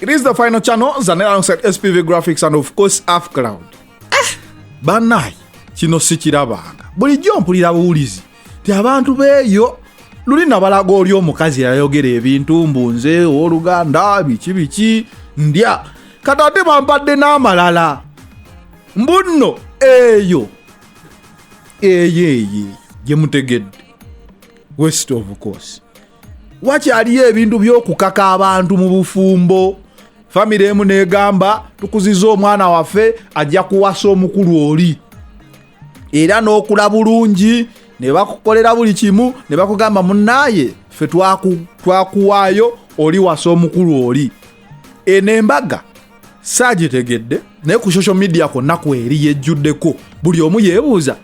It is the final channel, Zanel alongside SPV Graphics and of course Half Cloud. Eh, banayi kino sikirabanga bulijjo mpulira buwulizi ti abantu beeyo luli nabalaga oli omukazi yayogera ebintu mbu nze owoluganda biki biki ndya kati ate bampadde n'amalala mbu nno eyo eyo eyo gye mutegedde west of course wakyaliyo ebintu byokukaka abantu mu bufumbo famire emu negamba tukuziza omwana waffe ajja kuwasa omukulu oli era n'okula bulungi ne bakukolera buli kimu ne bakugamba munaaye ffe twakuwaayo oli wasa omukulu oli eno embaga saagitegedde naye ku social media kwonna kweri yejjuddeko buli omu yeebuuza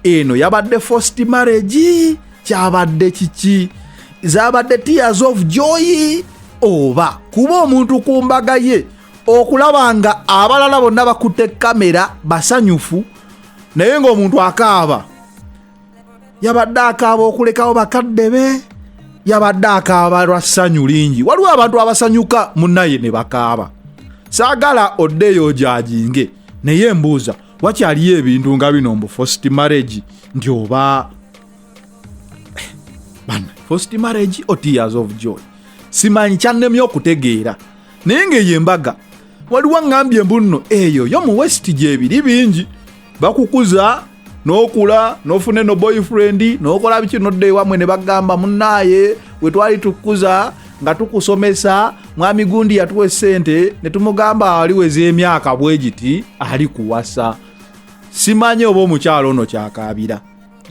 eno yabadde first marriage kyabadde kiki zabadde tears of joy oba kuba omuntu ku mbaga ye okulaba nga abalala bonna bakutte kamera basanyufu naye ng'omuntu akaaba yabadde akaaba okulekawo bakadde be yabadde akaaba lwa ssanyu lingi waliwo abantu abasanyuka munaye ne bakaaba saagala oddeyo ojaginge naye mbuuza wakyaliyo ebintu nga bino mbu first marriage nti oba bana first marriage or tears of joy simanyi kyannemye okutegeera naye ngaeyo embaga waliwo aŋambye mbu nno eyo yo mu west gyebiri bingi bakukuza nokula nofune no boyfriend nokola biki nodda ewamwe ne bagamba munaaye wetwali tukukuza nga tukusomesa mwami gundi yatuwa esente ne tumugamba ali weza emyaka bwe giti ali kuwasa simanyi oba omukyalo ono kyakaabira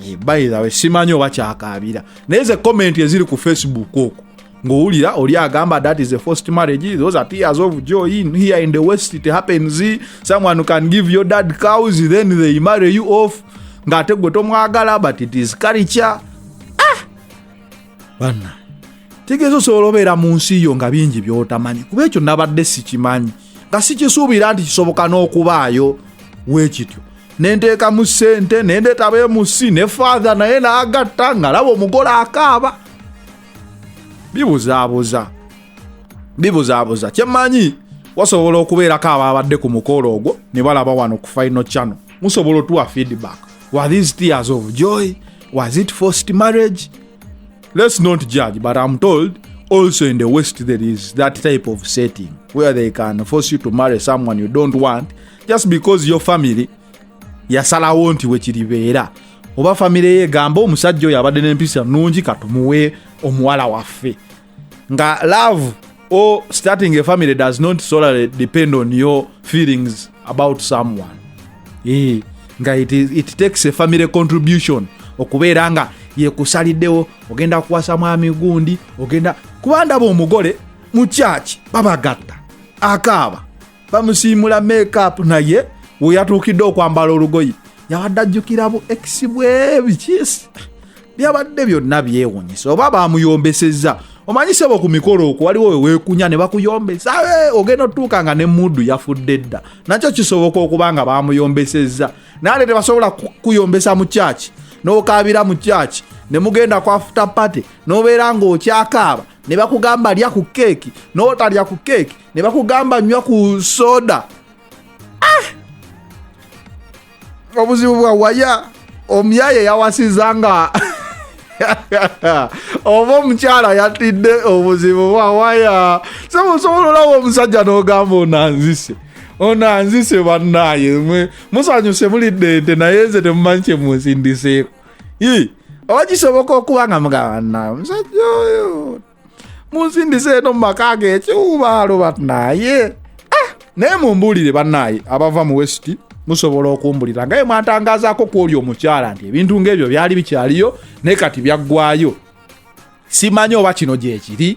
eh, bayirawe simanyi oba kyakaabira naye ze komenti eziri ku facebook okwo ng'owulira oli agamba that is a first marriage those are tears of joy in here in the west it happens someone can give your dad cows then they marry you off ng'ate gwe tomwagala but it is culture ah! banna tegeeza osobola obeera mu nsi yo nga bingi byotamanyi kuba ekyo nabadde sikimanyi nga sikisuubira nti kisoboka n'okubaayo weekityo nenteekamu ssente nendeetaba emusi ne faatha naye naagatta nga laba omugole akaaba bibuzaabuza bibuzaabuza kyemmanyi wasobola okubeerako abaabadde ku mukolo ogwo ne balaba wano ku final channel musobola otuwa feedback Were these tears of joy? Was it forced marriage? Let's not judge, but I'm told also in the West there is that type of setting where they can force you to marry someone you don't want just because your family yasalawo nti wekiribeera oba famire ye egamba omusajja oyo abadde n'empisa nnungi katumuwe omuwala waffe nga love or starting a family does not solely depend on your feelings about someone e, nga it, is, it takes a family contribution okubeera nga yekusaliddewo ogenda kuwasa mwami gundi ogenda kuba ndaba omugole mu kyaki babagatta akaaba bamusiimula makeup naye weyatuukidde okwambala olugoye yabadde ajjukira bu ex bwe bikiisi byabadde byonna byewunyisa oba bamuyombesezza omanyi sebo ku mikolo okwo waliwo weweekunya ne bakuyombesa ogenda otuuka nga ne muudu yafudde dda nakyo kisoboka okuba nga bamuyombesezza naye tebasobola kuyombesa mu kyaki n'okaabira mu kyaki ne mugenda kwafuta pate n'obeera ng'okyakaaba ne bakugamba lya ku keeki n'otalya ku keeki ne bakugamba nywa ku soda ah! obuzibu bwa waya omuyaye yawasiza nga oba omukyala yatidde obuzibu bwa waya sebusobola olawo omusajja n'ogamba onanzise ono anzise bannaye musanyuse mulidde ente naye nze temumanyi kyemunsindiseeko Yii. oba kisoboka okuba nga mugamba naye omusajja oyo munsindiza eno mu maka ge ekiwubaalo banaye ah, naye mumbuulire banaye abava mu wesiti musobola okumbulira nga ye mwatangazaako ku oli omukyala nti ebintu ng'ebyo byali bikyaliyo naye kati byaggwayo simanyi oba kino gyekiri